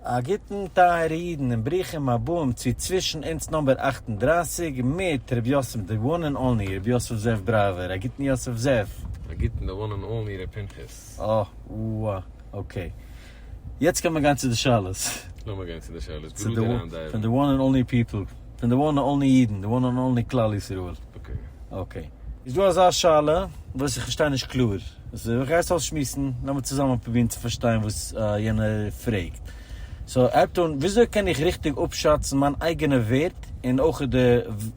א גוטן טייערע אידן און ברוכים הבאים צו צווישן אונז נאמבער אַכט און דרײַסיק מיט ר' יוסף די וואן און אנלי ר' יוסף זאב דרייווער א גוטן יוסף זאב. א גוטן די וואן און אנלי ר' פנחס. אוה אה אקעי יעצט קען מען גיין צו די שאלות. לאמיר גיין צו די שאלות בראדער איינדייווען. פון די וואן און אנלי פיפל. פון די וואן און אנלי אידן, די וואן און אנלי כלל ישראל. אקעי. איז דא אזא שאלה וואס איך פארשטיי נישט קלאר, סאו איך גיי עס אויסשמועסן, לאמיר צוזאמען פרובירן צו פארשטיין וואס יענער פרעגט. סאו ער האט אן, וויאזוי קען איך ריכטיג אפשאצן מיין אייגענע ווערט און אויך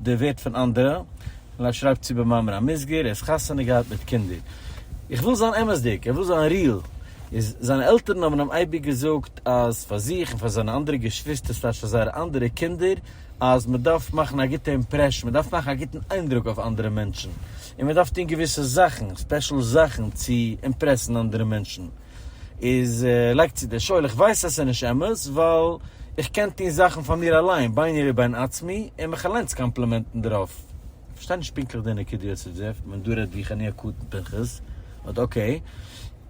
די ווערט פון אנדערע? און ער שרייבט צו במאמר המוסגר, ער האט חתונה געהאט מיט קינדער. איך וויל זיין אמת'דיג, איך וויל זיין ריעל. איז זיינע עלטערן האבן אים אייביג געזאגט אז פאר זיך און פאר זיינע אנדערע געשוויסטער סלעש פאר זייערע אנדערע קינדער אז מען דארף מאכן א גוטע אימפרעשן, מען דארף מאכן א גוטן איינדרוק אויף אנדערע מענטשן, און מען דארף טון געוויסע זאכן, ספעשל זאכן צו אימפרעסן אנדערע מענטשן. איז לייגט צו דער שואל איך ווייס אז ס'איז נישט אמת ווייל איך קען טון זאכן פאר מיר אליין, ביני לבין עצמי, און מיך אליין צו קאמפלימענטן דערויף. איך פארשטיי נישט פונקטליך די נקודה יוסף זאב, ווען דו רעדט ווי חניך קטן פנחס, באט אקעי.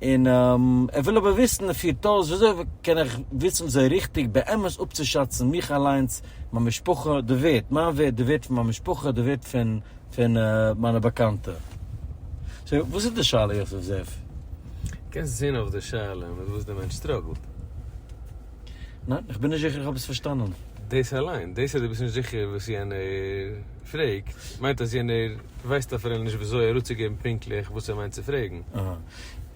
און ער וויל אבער וויסן און פירט אויס, וויאזוי קען איך וויסן וויאזוי ריכטיג באמת אפצושאצן מיך אליינס, מיין משפחה, די ווערט, מיין ווערט, די ווערט פון מיין משפחה, די ווערט פון פון מיינע באקאנטע. סאו וואס איז די שאלה יוסף זאב? קענסט זעהן אויף די שאלה מיט וואס די מענטש סטראגלט. ניין, איך בין נישט זיכער איך האב עס פארשטאנען. דאס אליין, דאס אז דו ביסט נישט זיכער וואס יענער פרעגט, מיינט אז יענער ווייסט אפילו נישט ווי אזוי אראפצוגעבן פונקטליך וואס ער מיינט צו פרעגן.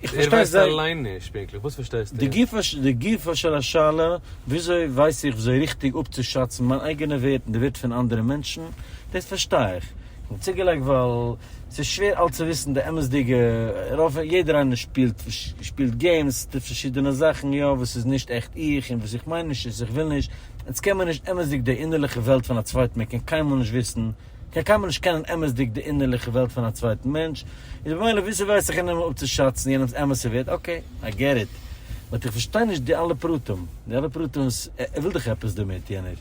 איך פארשטיי זייער. ער ווייסט אליין נישט פונקטליך, וואס פארשטייסטו? די גופא של השאלה, וויאזוי ווייס איך וויאזוי ריכטיג אפצושאצן מיין אייגענע ווערט און די ווערט פון אנדערע מענטשן, דאס פארשטיי איך. און צוגעלייגט ווייל ס'איז שווער אלץ צו וויסן די אמת'דיגע, רוב, יעדער איינער שפילט שפילט געימס, טוט פארשידענע זאכן יא וואס איז נישט עכט איך, און וואס איך מיין נישט איז איך וויל נישט, אונז קען מיר נישט אמת'דיג די אינערליכע וועלט פון א צווייטן מען קען קיינמאל נישט וויסן, מען קען קיינמאל נישט קענען אמת'דיג די אינערליכע וועלט פון א צווייטן מענטש, איז במילא וויאזוי ווייס איך אינאיינעם אפצושאצן יענעמ'ס אמת'ע ווערד, אקעי, איי געט איט, באט איך פארשטיי נישט די אלע פרטים, די אלע פרטים וואס, ער וויל דאך עפעס דערמיט יענער.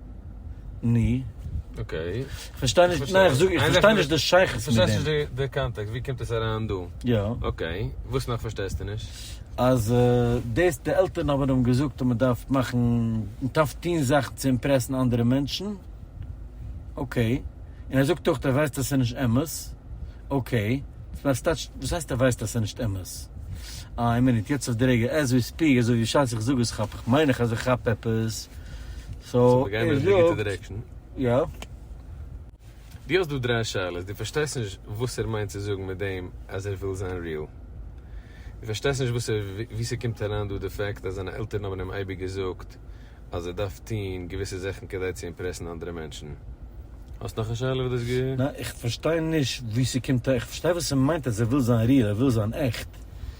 ני. אקעי. כ'פארשטיי נישט, ניין איך זאג איך פארשטיי נישט די שייכות מיט דעם. איך פארשטיי נישט די קאנטעקסט, ווי קומט עס אריין דא? יא. אקעי, וואס נאך פארשטייסטו נישט? אז דאס די עלטערן האבן אים געזאגט אז מען דארף מאכן, מען דארף טון זאכן צו אימפרעסן אנדערע מענטשן, אקעי, און ער זאגט אויך ער ווייסט אז ס'איז נישט אמת, אקעי, וואס הייסט ער ווייסט אז ס'איז נישט אמת? איין מינוט, יעצט אויף די רגע עז ווי ספיק, אזוי ווי בשעת איך זאג עס כאפ איך, מיין איך אז איך כאפ עפעס. סאו ער זאגט יא. דו האסט דא דריי שאלות, דו פארשטייסט נישט וואס ער מיינט צו זאגן מיט דעם אז ער וויל זיין ריעל, דו פארשטייסט נישט וואס ער ווי ס'קומט אריין דא די פעקט אז זיינע עלטערן האבן אים אייביג געזאגט אז ער דארף טון געוויסע זאכן כדי צו אימפרעסן אנדערע מענטשן. האסט נאך א שאלה וואס דו האסט גע. ניין איך פארשטיי נישט ווי ס'קומט אריין, איך פארשטיי וואס ער מיינט אז ער וויל זיין ריעל, ער וויל זיין עכט.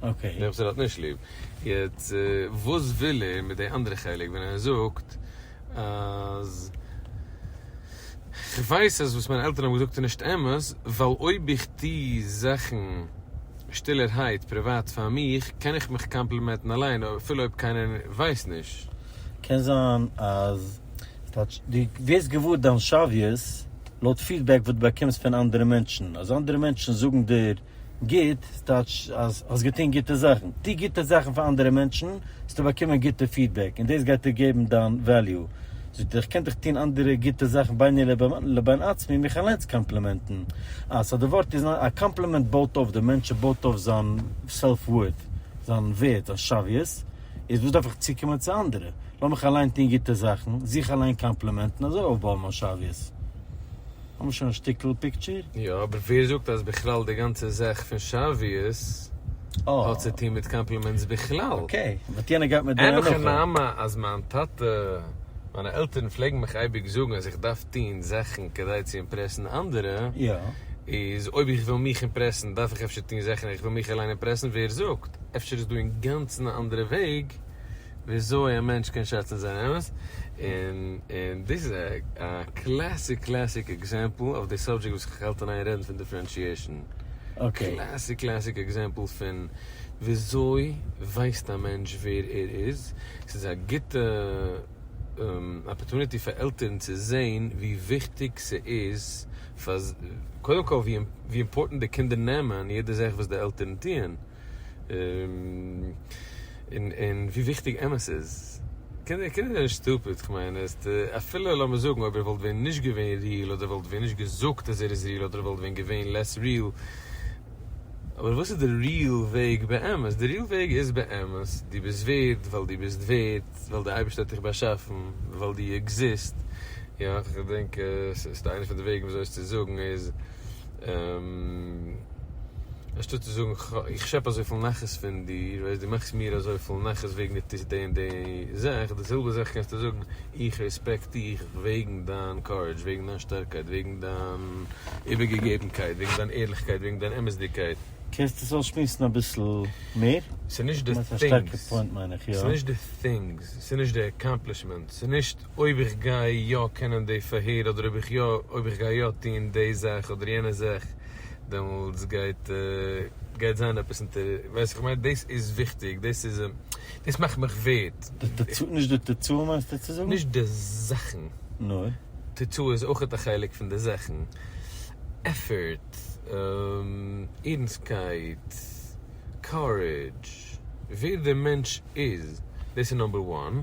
אקעי. דער וואס ער האט נישט ליב. יעצט וואס וויל ער מיט די אנדערע חלק ווען ער זאגט אז כ'ווייס אז וואס מיינע עלטערן האבן געזאגט איז נישט אמת, ווייל אויב איך טו זאכן שטילערהייט פריוואט פאר מיך קען איך מיך קאמפלימעטן אליין אפילו אויב קיינער ווייסט נישט. קען זיין אז כאטש דו ווערסט געוואר דיין שוויות לויט פידבעק וואס דו באקומסט פון אנדערע מענטשן, אז אנדערע מענטשן זאגן דיר גוט טייטש אז האסט געטון גוטע זאכן. טו גוטע זאכן פאר אנדערע מענטשן, וועסטו באקומען גוטע פידבעק, און דאס גייט דיר געבן דיין וועליו. זאגט ער, איך קען דאך טון אנדערע גוטע זאכן ביני לבין עצמי און מיך אליינס קאמפלימענטן. אה, סאו די ווארט איז, א קאמפלימענט בויט אויף דעם מענטש, עס בויט אויף זיין סעלף ווארט, זיין ווערד, זיין שוויות. איז וואס דארף איך צוקומען צו אנדערע? לאמיך אליין טון גוטע זאכן, זיך אליין קאמפלימענטן, אזוי אויפבויען מיין שוויות. האבן מיר שוין א שטיקל פיקטשער. יא, אבער ווער זאגט אז בכלל די גאנצע זאך פון שאוויעס האט צו טון מיט קאמפלימענטס בכלל? אקעי, באט יענער גייט מיט די הנחה. אין הכי נמי אז מיין טאטע, מיינע עלטערן פלעגן מיך אייביג זאגן אז איך דארף טון זאכן כדי צו אימפרעסן אנדערע, איז אויב איך וויל מיך אימפרעסן דארף איך אפשר טון זאכן איך וויל מיך אליין אימפרעסן, ווער זאגט? אפשר איז דא אינגאנצן א אנדערע וועג? וויאזוי א מענטש קען שעצן זיין אמת, און און דאס איז א קלעסיק קלעסיק עקזעמפל אויף די סאבדזשעקט וואס איך האלט אין איין רעדן פון דיפרענשיעשן, קלעסיק קלעסיק עקזעמפל פון וויאזוי ווייסט א מענטש ווער ער איז, ס'איז א גוטע אפערטוניטי פאר עלטערן צו זען ווי וויכטיג ס'איז פאר קודם כל ווי אימפארטענט די קינדער נעמען יעדע זאך וואס די עלטערן טוען, און ווי וויכטיג אמת איז. קינדער זענען נישט סטופיד, כ'מיין, אפילו לאמיר זאגן אויב ער וואלט ווען נישט געווען ריעל אדער וואלט ווען נישט געזאגט אז ער איז ריעל אדער וואלט ווען געווען לעס ריעל, אבער וואס איז די ריעל וועג באמת? די ריעל וועג איז באמת דו ביסט ווערד ווייל דו ביסט ווערד, ווייל די אייבערשטער האט דיך באשאפן, ווייל דו עקזיסט, יא, כ'דענק ס'איז איינע פון די וועגן וויאזוי עס צו זאגן איז. אנשטאט צו זאגן איך שעפ אזויפיל נחת פון דיר, וועסט דו מאכסט מיר אזויפיל נחת וועגן דו טוסט די און די זאך, די זעלבע זאך קענסטו זאגן איך רעספעקט דיך וועגן דיין קארעדזש, וועגן דיין שטארקייט, וועגן דיין איבערגעגעבנקייט, וועגן דיין ערליכקייט, וועגן דיין אמת'דיגקייט. קענסט עס אויסשמועסן אביסל מער? ס'נישט די טינגס, ס'נישט די טינגס, ס'נישט די עקאמפלישמענטס, ס'נישט. אויב איך גיי יא קענען די פארהער אדער אויב איך יא אויב איך גיי יא טוהן די זאך אדער יענע זאך דעמאלטס גייט גייט זיין עפעס אונטער ווייסט איך מיין דאס איז וויכטיג דאס איז דאס מאכט מיך ווערד. די תוצאה נישט די תוצאה מיינסטו צו זאגן? נישט די זאכן. נאר. תוצאה איז אויכעט א חלק פון די זאכן. עפערט. ערנסטקייט. קארעדזש. ווער דער מענטש איז. דאס איז נאמבער וואן.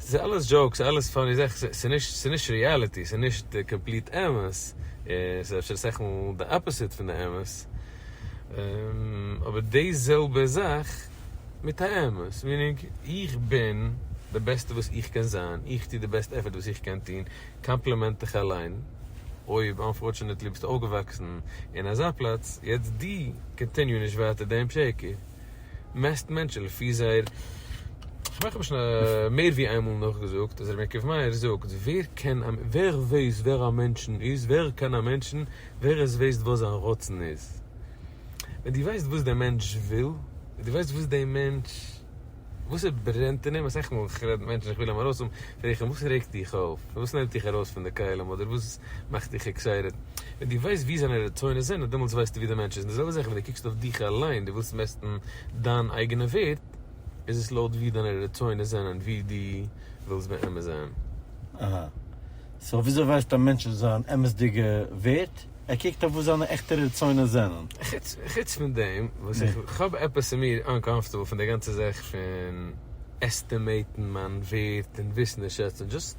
ס'איז אלעס דזשאוקס, אלעס פאני זאכן, ס'איז נישט ריעליטי, ס'איז נישט קאמפליט אמת, ס'איז אפשר אסאך מאל די אפאסיט פון די אמת, אבער די זעלבע זאך מיט א אמת, מיענינג, איך בין די בעסטע וואס איך קען זיין, איך טו די בעסט עפערט וואס איך קען טון, קאמפלימענט דיך אליין, אויב אנפארטשענעטלי ביסטו אויפגעוואקסן אין אזא פלאץ, יעצט דו קאנטיניו נישט ווייטער דעם שקר. מעסט מענטשן לפי זייער, כ'מיין כ'האב שוין מער ווי איינמאל נאכגעזאגט אז רבי יעקב מאיר זאגט ווער קען א ווער ווייסט ווער א מענטשן איז ווער קען א מענטשן ווער עס ווייסט וואס זיין רצון איז ווען דו ווייסט וואס דער מענטש וויל און דו ווייסט וואס דער מענטש וואס עס ברענט אין אים אסאך מאל איך רעד מיט מענטשן איך וויל אים ארויסהאבן פרעג איך אים וואס רעגט דיך אויף וואס נעמט דיך ארויס פון די כלים אדער וואס מאך דיך עקסייטעד. ווען דו ווייסט ווי זיינע רצונות זענען, דעמאלטס ווייסטו ווי דער מענטש איז. און די זעלבע זאך ווען דו קוקסט אויף דיך אליין, דו ווילסט מעסטן דיין אייגענע ווערד, איז עס לויט ווי דיינע רצונות זענען, ווי דו ווילסט באמת זיין. אהא. סאו וויאזוי ווייסט א מענטש זיין אמת'דיגע ווערד? ער קוקט אויף וואס זיינע עכטע רצונות זענען. חוץ חוץ פון דעם, וואס איך כ'האב עפעס אין מיר אנקאמפארטעבל פון די גאנצע זאך פון עסטימעיטן מיין ווערד און וויסן און שעצן, דזשאסט.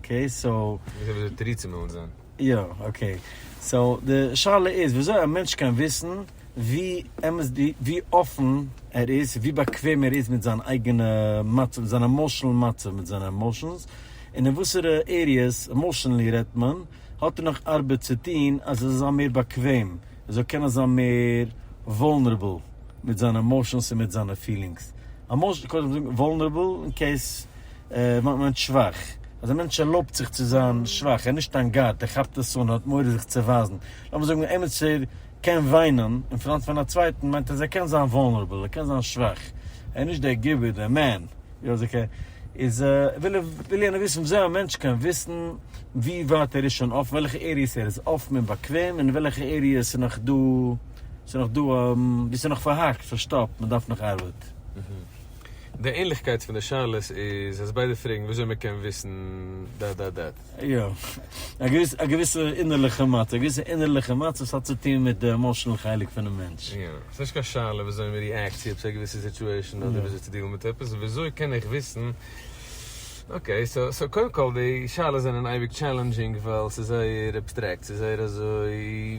אקעי סאו. איך זעה וואס די תירוצים ווילן זיין. יא אקעי סאו די שאלה איז וויאזוי א מענטש קען וויסן ווי אמת די ווי אפן ער איז ווי באקוועם ער איז מיט זיין אייגענע מצב מיט זיין עמאושענעל מצב מיט זיינע עמאושענס און אין וואסערע עריעס עמאושענעלי רעדט מען האט ער נאך ארבעט צו טוהן אז ער זאל זיין מער באקוועם ער זאל קענען זיין מער וואלנערעבל מיט זיינע עמאושענס און מיט זיינע פילינגס עמאושענס קודם וואלנערעבל אין קעיס וואלט מען מיינט שוואך. אז א מענטש ערלויבט זיך צו זיין שוואך, ער איז נישט אין גאט, ער כאפט עס אן, ער האט מורא זיך צו ווייזן. לאמיר זאגן א עמיצער קען וויינען אין פראנט פון א צווייטן, מיינט אז ער קען זיין וואלנערבעל, ער קען זיין שוואך. ער איז נישט דער גיבור, דער מען. איז וויל יענער וויסן וויאזוי א מענטש קען וויסן ווי ווייט ער איז שוין אפן, וועלכע עריעס ער איז אפן און באקוועם, און וועלכע עריעס ס'איז נאך דא, ס'איז נאך דא, וואו ס'איז נאך פארהאקט, פארשטאפט, מ'דארף נאך ארבעט. די ענליכקייט פון די שאלות איז אז ביידע פרעגן וויאזוי מען קען וויסן דאט דאט דאט. יא. א געוויסע א געוויסע אינערליכע מצב. א געוויסע אינערליכע מצב. ס'האט צו טון מיט די עמאשענעל חלק פונעם מענטש. יא. ס'איז נישט קיין שאלה וויאזוי מען ריעקט צו עפעס א געוויסע סיטועשן אדער וויאזוי צו דילן מיט עפעס. וויאזוי קען איך וויסן. אקעי. סאו סאו קודם כל די שאלות זענען אייביג טשעלענדזשינג ווייל ס'איז זייער עבסטרעקט. ס'איז זייער אזוי.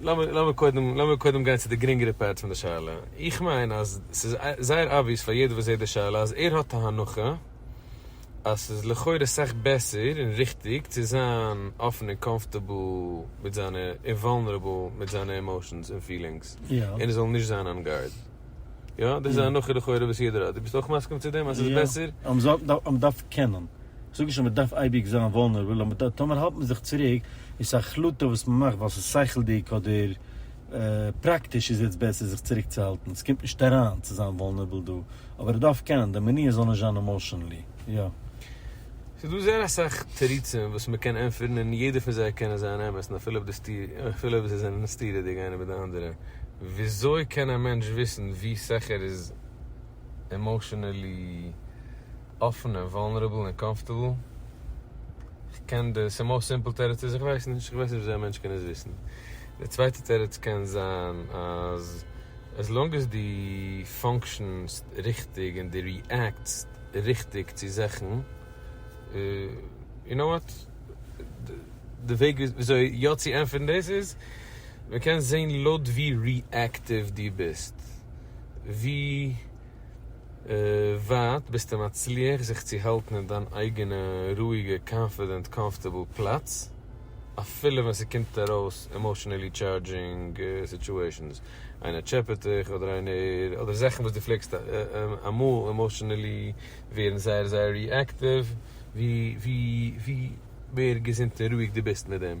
לאמיר לאמיר קודם לאמיר קודם גיין צו די גרינגערע פארט פון די שאלה. איך מיין אז ס'איז זייער אבוויעס פאר יעדער וואס זעט די שאלה אז ער האט א הנחה אז ס'איז לכאורה סאך בעסער און ריכטיג צו זיין אפן און קאמפארטעבל מיט זיינע און וואלנערעבל מיט זיינע עמאושענס און פילינגס און עס זאל נישט זיין אן גארד. יא? דאס איז א הנחה לכאורה וואס יעדער האט. דו ביסט אויך מסכים צו דעם אז ס'איז בעסער? יא. מען דארף קענען. זאג נישט אז מען דארף אייביג זיין וואלנערבל, אבער טאמער האלט מען זיך צוריק, איז עס א החלטה וואס מען מאכט ווייל ס'איז שכל'דיג אדער פראקטיש איז יעצט בעסער זיך צוריקצוהאלטן, ס'קומט נישט אריין צו זיין וואלנערבל דא, אבער ער דארף קענען די מניעות זאל נישט זיין עמאשענלי, יא. ס'איז דא זייער אסאך תירוצים וואס מען קען ענטפערן און יעדער פון זיי קענען זיין אמת און אפילו אויב זיי זענען סתירה'דיג איינער מיט די אנדערע, וויאזוי קען א מענטש וויסן ווי סכר איז? עמאושענעלי אפן און וואלנערעבל און קאמפארטעבל, כ'קען די ס'מאוסט סימפל תירוץ איז איך ווייס נישט, כ'ווייס נישט וויאזוי א מענטש קען עס וויסן, די צווייטע תירוץ קען זיין אז עז לאנג עז די פאנקשענסט ריכטיג און די ריעקטסט ריכטיג צו זאכן, יו נאו וואט, די וועג וויאזוי יא צו ענטפערן דאס איז, מ'קען זעהן לויט ווי ריעקטיוו דו ביסט, ווי ווייט ביסטו מצליח זיך צו האלטן אין דיין אייגענע רואיגע קאנפידענט קאמפארטעבל פלאץ אפילו ווען ס'קומט ארויס עמאשענעלי טשארדזשינג סיטואשענס, איינער טשעפעט דיך אדער איינער אדער זאכן וואס דו פלעגסט אמאל עמאשענעלי ווערן זייער זייער ריעקטיוו, ווי מער געזונט און רואיג דו ביסט מיט דעם.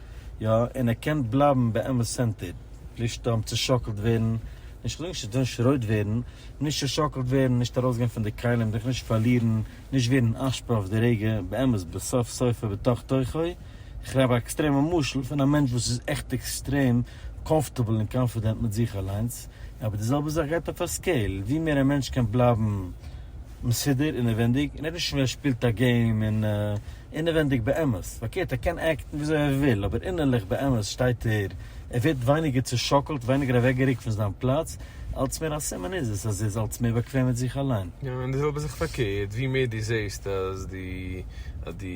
יא, און ער קען בלייבן באמת סענטערד, נישט אהן צושאקלט ווערן, נישט חלילה נישט אהן שרויט ווערן, נישט צושאקלט ווערן, נישט ארויסגיין פון די כלים, זיך נישט פארלירן, נישט ווערן אשפה אויף די רגע, באמת בסוף סופו בתוך תוכו, איך רעד א עקסטרעמע משל פון א מענטש וואס איז עכט עקסטרעם קאמפארטעבל און קאנפידענט מיט זיך אליינס, אבער די זעלבע זאך גייט אויף א סקעיל, ווי מער א מענטש קען בלייבן מסודר אינעווענדיג, און ער איז נישט מער שפילט א געים און. אינעווענדיג באמת, פארקערט ער קען עקטן וויאזוי ער וויל, אבער אינערליך באמת שטייט ער, ער ווערט ווייניגער צושאקלט, ווייניגער אוועקגערוקט פון זיין פלאץ, אלץ מער א סימן איז עס אז ער איז אלץ מער באקוועם מיט זיך אליין. יא, און די זעלבע זאך פארקערט, ווי מער דו זעסט אז דו אז דו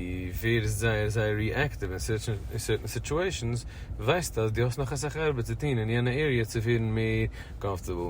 ווערסט זייער זייער ריעקטיוו אין סערטען סיטועשענס, ווייסטו אז דו האסט נאך אסאך ארבעט צו טון אין יענע עריע צו ווערן מער קאמפארטעבל,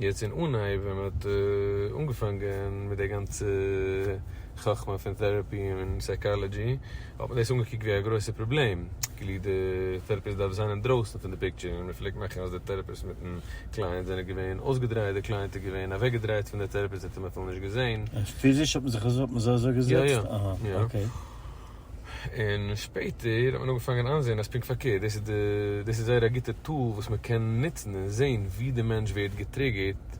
יעצט אין אנהייב ווען מען האט אנגעפאנגען מיט די גאנצע חכמה פון טעראפי און סייקאלעדזשי האט מען דאס אנגעקוקט ווי א גרויסע פראבלעם כאילו די טעראפיסט דארף זיין אינדרויסן פון די פיקטשער און מען פלעגט מאכן אז די טעראפיסט מיטן קלייענט זענען געווען אויסגעדרייט די קלייענט איז געווען אוועקגעדרייט פון די טעראפיסט זי האט אים אפילו נישט געזען. פיזיש האט מען זיך אזוי אזוי געזעצט? יא יא. אהא אקעי. און שפעטער האט מען אנגעפאנגען איינזעהן אז פונקט פארקערט, דאס איז די, דאס איז זייער א גוטע טול וואס מען קען נוצן און זעהן ווי די מענטש ווערט געטריגערט,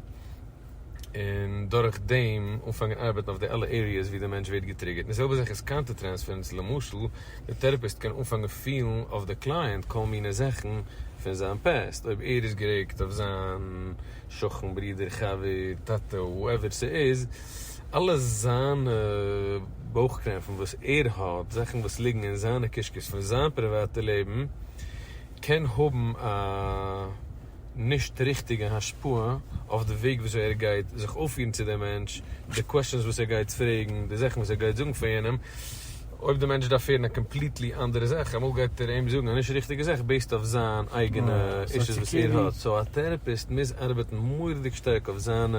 און דורך דעם אנפאנגען ארבעטן אויף די אלע עריעס ווי די מענטש ווערט געטריגערט, און די זעלבע זאך איז קאונטער טרענספערענס, למשל די טעראפיסט קען אנפאנגען פילן אויף די קלייענט כל מיני זאכן פון זיין פּעסט, אויב ער איז גערעגט אויף זיין שכן, ברודער, חבר, טאטע, הואעווער ס'איז, אלע זיינע בויך קרעמפן וואס ער האט, זאכן וואס ליגן אין זיינע קישקעס פון זיין פריוואטע לעבן, קען האבן א נישט ריכטיגע השפעה אויף די וועג וויאזוי ער גייט זיך אויפפירן צו די מענטש, די קוועשאנס וואס ער גייט פרעגן, די זאכן וואס ער גייט זאגן פאר יענעם, אויב די מענטש דארף הערן א קאמפליטלי אנדערע זאך, אמאל גייט ער אים זאגן א נישט ריכטיגע זאך בעיסד אויף זיין אייגענע אישוס וואס ער האט, סאו א טערעפיסט מוז ארבעטן מורא'דיג שטארק אויף זיינע.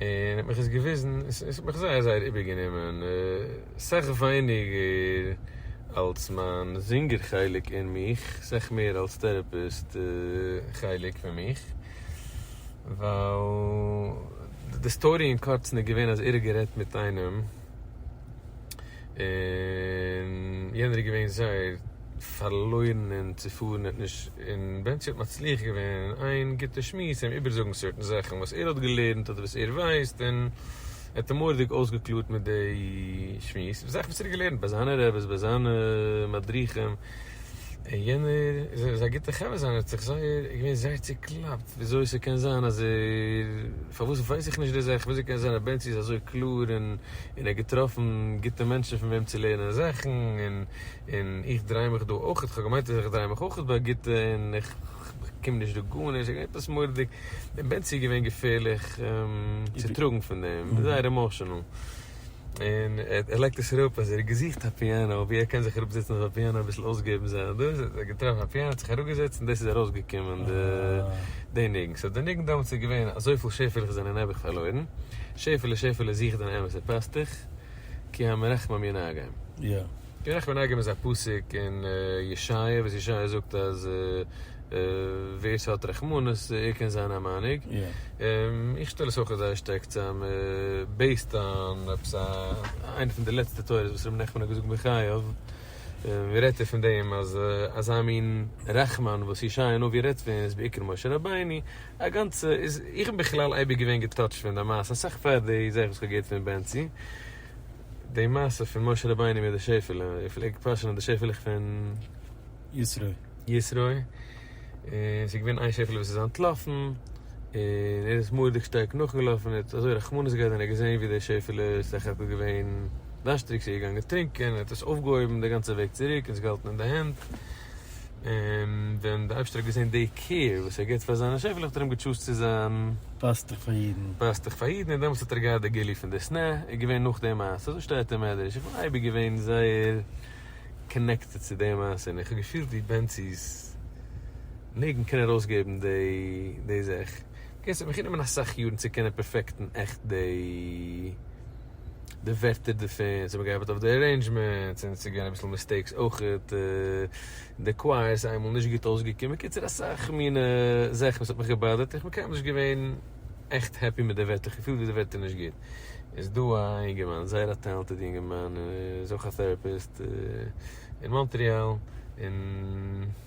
און האט מיך עס געוויזן, עס האט מיך זייער זייער איבערגענומען, סך ווייניגער אלס מיין זינגער חלק אין מיך, סך מער אלס טערעפיסט חלק פון מיך, ווייל די סטארי אין קורצן איז געווען אז ער האט גערעדט מיט איינעם, און יענער איז געווען זייער פארלוירן און צופארן און נישט און בענטשי האט מצליח געווען אין איין גוטע שמועס אים איבערזאגן סערטן זאכן וואס ער האט געלערנט אדער וואס ער ווייסט און ער האט אים מורא'דיג אויסגעקלארט מיט די שמועס זאכן וואס ער האט געלערנט ביי זיינע רעבעס ביי זיינע מדריכים און יענער איז א גוטע חבר זיינער האט זיך זייער געווען זייער צוקלאפט וויאזוי ס'קען זיין אז ער פארוואס ווייס איך נישט די זאך וויאזוי קען זיין אז בנצי איז אזוי קלאר און און ער האט געטראפן גוטע מענטשן פון וועם צו לערנען זאכן און און איך דריי מיך דא אויך כ'האב געמיינט אז איך דריי מיך אויך ביי גוטע און איך באקום נישט דא גארנישט ס'איז געווען עפעס מורא'דיג און בנצי איז געווען געפערליך צוטראגן פון דעם זייער עמאשענעל. און ער לייגט עס אראפ אז ער האט געזוכט א פיאנא ווי ער קען זיך אראפ זעצן אויף א פיאנא אביסל אויסגעבן זיין דאס האט ער געטראפן א פיאנא האט זיך אראפגעזעצט און דאס איז ארויסגעקומען די די ניגון סאו די ניגון דאמאלס איז געווען אזויפיל שעפעלעך זענען נעבעך פארלוירן שעפעלע שעפעלע זוך דיין אמת'ע פאסטוך כי המרחמם ינאגם. קען איך מנגן איז א פסוק אין ישעיה וואס ישעיה זאגט אז ווער ס'האט רחמנות ער קען זיין א מנהיג, איך שטעל עס אויך זייער שטארק צאם בעיסד אן עפעס א איינע פון די לעצטע תורות וואס רבי נחמן האט געזאגט בחייו, רעדט ער פון דעם אז אזא מין רחמן וואס ישעיה הנביא רעדט פון איז בעיקר משה רבינו, א גאנצע, איך בין בכלל אייביג געווען געטאטשט פון די מעשה אסאך פאר די זאך וואס כ'האב געהערט פון בנצי. די מעשה פון משה רבינו מיט די שעפעלע, איך פלעג פאשענען די שעפעלעך פון ישרוי, און ס'איז געווען איין שעפעלע וואס איז אנטלאפן, און ער איז מורא'דיג שטארק נאכגעלאפן, ער האט אזוי רחמנות געהאט ווען ער האט געזען ווי די שעפעלע איז סך הכל געווען דארשטיג, ס'איז געגאנגען טרינקען, ער האט עס אויפגעהויבן די גאנצע וועג צוריק און עס געהאלטן אין די הענט, און ווען די אייבשטער האט געזען די קעיר וואס ער גיבט פאר זיינע שעפעלעך האט ער אים געטשוזט צו זיין פאסטעך פאר אידן. פאסטעך פאר אידן, און דעמאלטס האט ער געהאט די גילוי פון די שנאה, איז געווען נאך די מעשה, אזוי שטייט אין מדרש, איך בין אייביג געווען זייער קאנעקטעד צו די מעשה, און איך האב געפילט ווי בענצי'ס ניגון קען ארויסגעבן די זאך, אקעי ס'האט מיך גענומען אסאך יארן צו קענען פערפעקטן עכט די. די ווערטער דערפון, ס'האט מיר געהאלפעט אויף די ערעינדזשמענטס, און ס'געווען אביסל מיסטעיקס אויכעט, און די קווייער איז איינמאל נישט גוט אויסגעקומען, קיצור אסאך מינע זאכן וואס האט מיך געבאדערט, און כ'בין קיינמאל נישט געווען עכט העפי מיט די ווערטער, כ'האב געפילט ווי די ווערטער נישט גוט, איז דא א אינגערמאן, זייער א טעלענטעד אינגערמאן, איז אויך א טערעפיסט, אין מאנטריאל, און.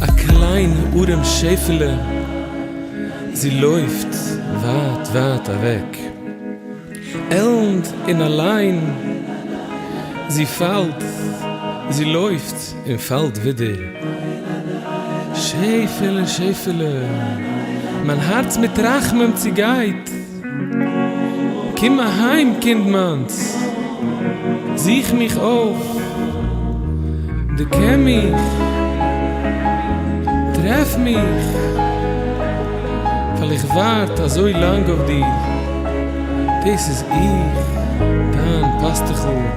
א קליין ארעם שעפעלע זי לויפט ווייט ווייט אוועק עלנד און אליין זי פאלט זי לויפט. און פאלט ווידער שעפעלע שעפעלע מיין הארץ מיט רחמים צוגייט קום אהיים קינד מיינס זוך מיך אויף דו קען מיך טרעף מיך ווייל איך ווארט אזוי לאנג אויף דיר דאס איז איך דיין פאסטוכל.